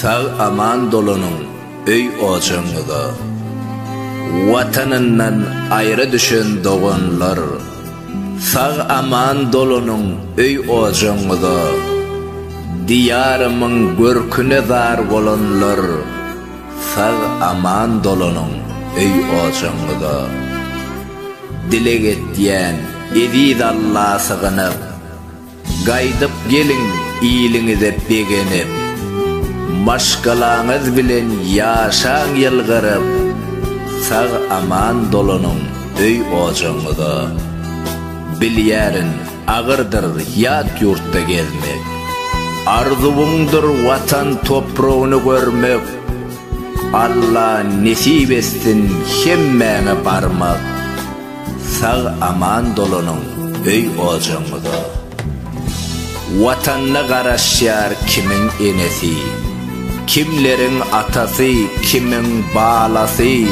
Sag aman dolanyň öý ojagyňyza. Watanyndan aýra düşen doganlar. Sag aman dolanyň öý ojagyňyza. Diýarymyň görküne zar bolanlar. Sag aman dolanyň öý ojagyňyza. Dileg etýän eziz Alla sygynyp. Gaýdyp geliň iliňize begenip, Maşgalaňyz bilen ýaşaň ýylgyryp, Sag-aman dolanyň öý-ojagyňyza. Bilýärin, agyrdyr ýat ýurtda gezmek, Arzuwyňdyr Watan topragyny görmek, Alla nesip etsin hemmäňe barmak. Sag aman dolanyň öý ojagyňyza. Watanyna garaşýar kimiň enesi, kimleriň atasy, kimiň balasy,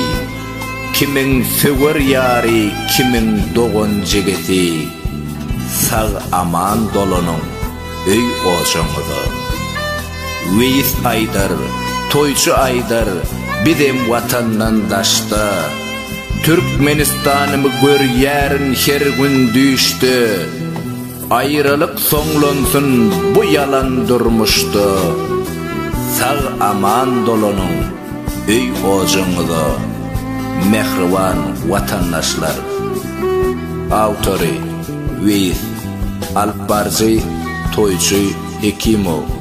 kimiň söwer ýary, kimiň dogan-jigisi. Sag aman dolanyň. öý-ojagyňyza. Weýis aýdar, toýçy aýdar, bizem watandan daşda. Türkmenistanymy görýärin her gün düýşde. Aýralyk soňlansyn bu ýalan durmuşda. Sag-aman dolanyň öý-ojagyňyza, mähriban watandaşlar! Awtory, Weýis. Alypbaryjy, toýçy Hekimow.